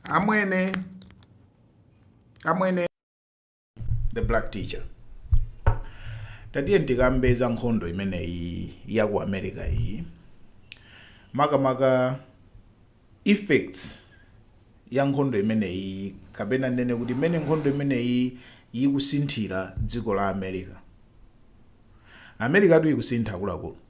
amwene amwene the black teacher tatiye tikambe za nkhondo imeneyi ya ku america iyi makamaka effects ya nkhondo imeneyi kapena ndinene kuti mmene nkhondo imeneyi yikusinthira dziko la america america tu ikusintha akuluakulu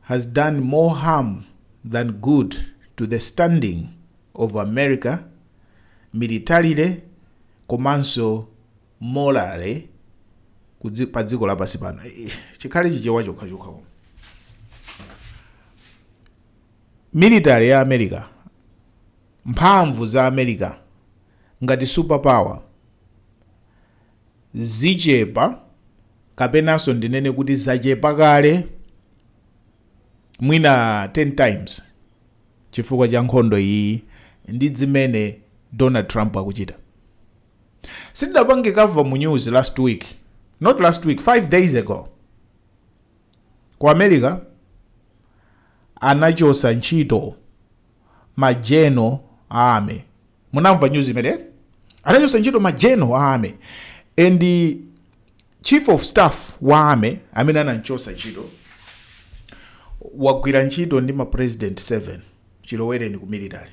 has done more harm than good to the standing of America militarily komanso morally pa dziko lapansi pano chikhale chichewa chokha chokha military ya america mphamvu za america ngati superpower zichepa kapenanso ndinene kuti zachepa kale mwina 10 times chifukwa cha nkhondo iyiyi ndi zimene donald trump akuchita sindidapange cover mu news last week not last week 5 days ago ku america anachotsa ntchito ma general a army munamva news imene anachotsa ntchito ma general a army and the chief of staff wa army amene anamchotsa ntchito wagwira ntchito ndi ma president 7 chilowereni ku military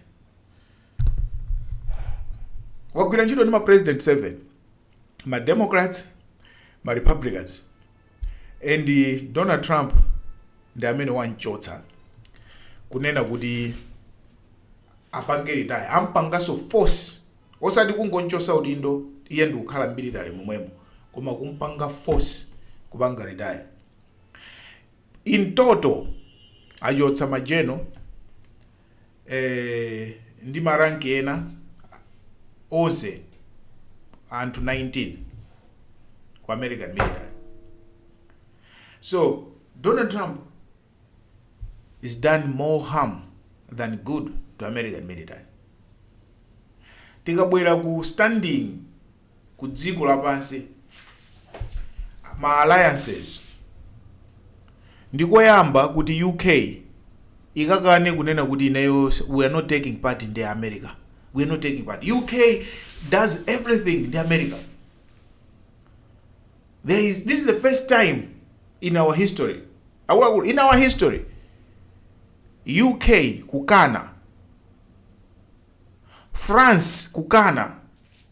wagwira ntchito ndi ma president 7 ma democrats ma republicans And Donald Trump ndi amene wamchotsa kunena kuti apange retire ampanganso force osati kungomchotsa udindo iye ndikukhala mu military momwemo koma kumpanga force kupanga retire in total achotsa ma general eh, ndi maranki ena onse anthu 19 ku american military so donald trump has done more harm than good to american military tikabwera ku standing ku dziko lapansi, ma alliances, ndi koyamba kuti UK ikakane kunena kuti ineyo we are not taking part ndi America. We are not taking part. UK does everything ndi America. There is, this is the first time in our history, akuluakulu, in our history, UK kukana, France kukana,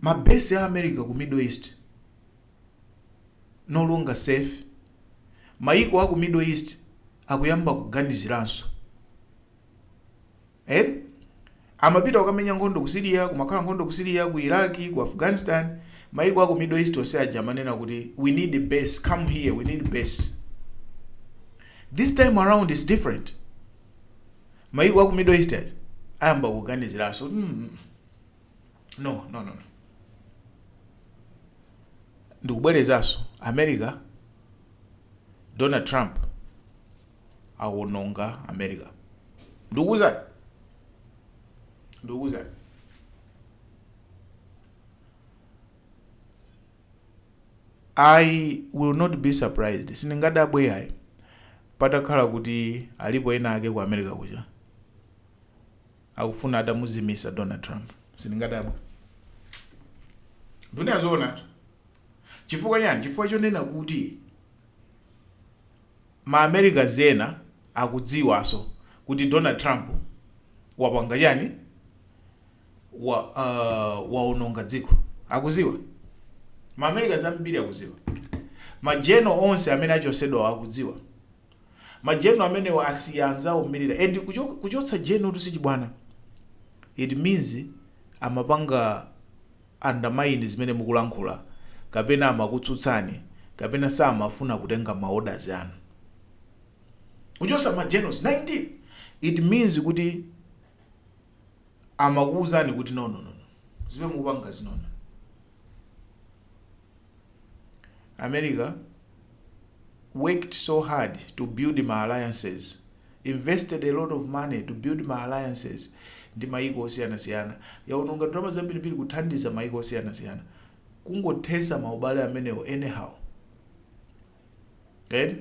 Ma base a America ku Middle East no longer safe, mayiko aku Middle East akuyamba kuganiziranso eti, amapita kukamenya nkhondo ku Syria, kumakhala nkhondo ku Syria, ku Iraq, ku Afghanistan, mayiko aku Middle East onse aja amanena kuti we need base, come here, we need base. This time around is different, mayiko aku Middle East aja ayamba kuganiziranso mm, no no no ndikubwerezanso america donald trump akuwononga america ndikuwuzani ndikuwuzani i will not be surprised sindingadabwe yayi patakhala kuti alipo ena ake ku america kuja akufuna atamuzimisa Donald Trump sindingadabwe ndikunena zoonatu chifukwa chani chifukwa chonena kuti ma Americans ena akudziwanso kuti Donald Trump wapanga chani wa uh, waononga dziko akuziwa ma Americans ambiri akuziwa ma general onse amene achotsedwa akudziwa Ma general amenewa asiya anzawo mmirira and kuchotsa general tu sichibwana it means amapanga undermine zimene mukulankhula kapena amakutsutsani kapena samafuna kutenga ma orders anu. Kuchotsa ma generals 19 it means kuti amakuuzani kuti no no no no. zimene mukupangazi no no america worked so hard to build ma alliances invested a lot of money to build ma alliances ndi maiko osiyanasiyana yaononga ndalama zambirimbiri kuthandiza maiko osiyanasiyana kungothetsa maubale amenewo anyhow right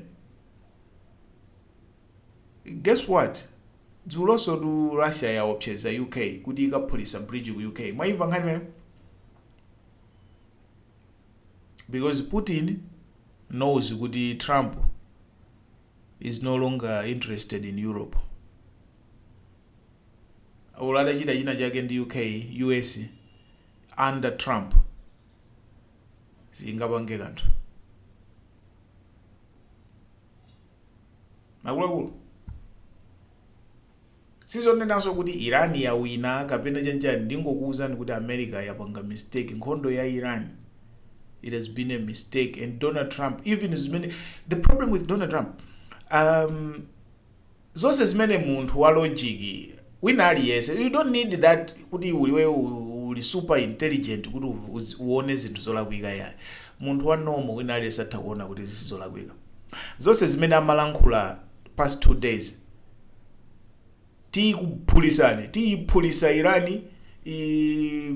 guess what dzulonsotu Russia yaopseza UK kuti ikaphulisa bridge ku UK mwaimva nkhani imeneyo? because Putin knows kuti Trump is no longer interested in Europe olo atachita china chake ndi UK US under Trump singapange kanthu akuluakulu sizonenanso kuti iran yawina kapena chanichani ndingokuwuzani kuti america yapanga mistake nkhondo ya iran it has been a mistake and donald trump even zimene the problem with donald trump um, zonse zimene munthu wa logic wina aliyense you don't need that kuti uli we uli super intelligent kuti uone zinthu zolakwika yayi munthu wa normal wina aliyense atha kuona kuti izi ndi zolakwika zonse zimene amalankhula past two days tikuphulisani tiyiphulisa irani i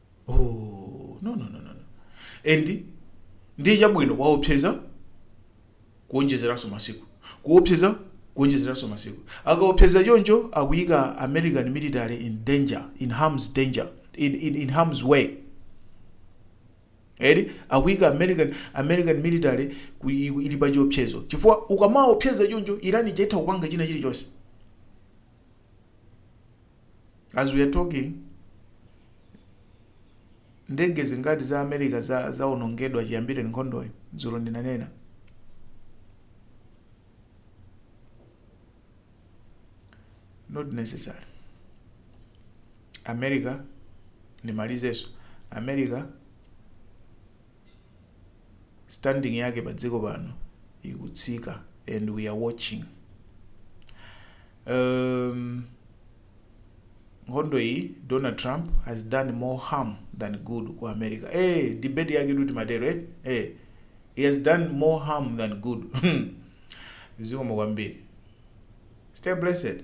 oh, no, no, no, no. no. and ndiye chabwino waopseza kuonjezeranso masiku kuopseza kuonjezeranso masiku akaopseza choncho akuika american military in danger in harm's danger in, in, in harm's way eri akuika american american military ku- ili pa chiopsezo chifukwa ukamaopseza choncho irani atha kupanga china chilichonse As we are talking ndege zingati za America zaonongedwa chiyambire nkhondoyi dzulo ndinanena not necessarily America ndi ma allies enso America standing yake pa dziko pano ikutsika and we are watching um, nkhondo iyi donald trump has done more harm than good ku america eh debate yake tuti matero eh eh he has done more harm than good zikomo kwambiri stay blessed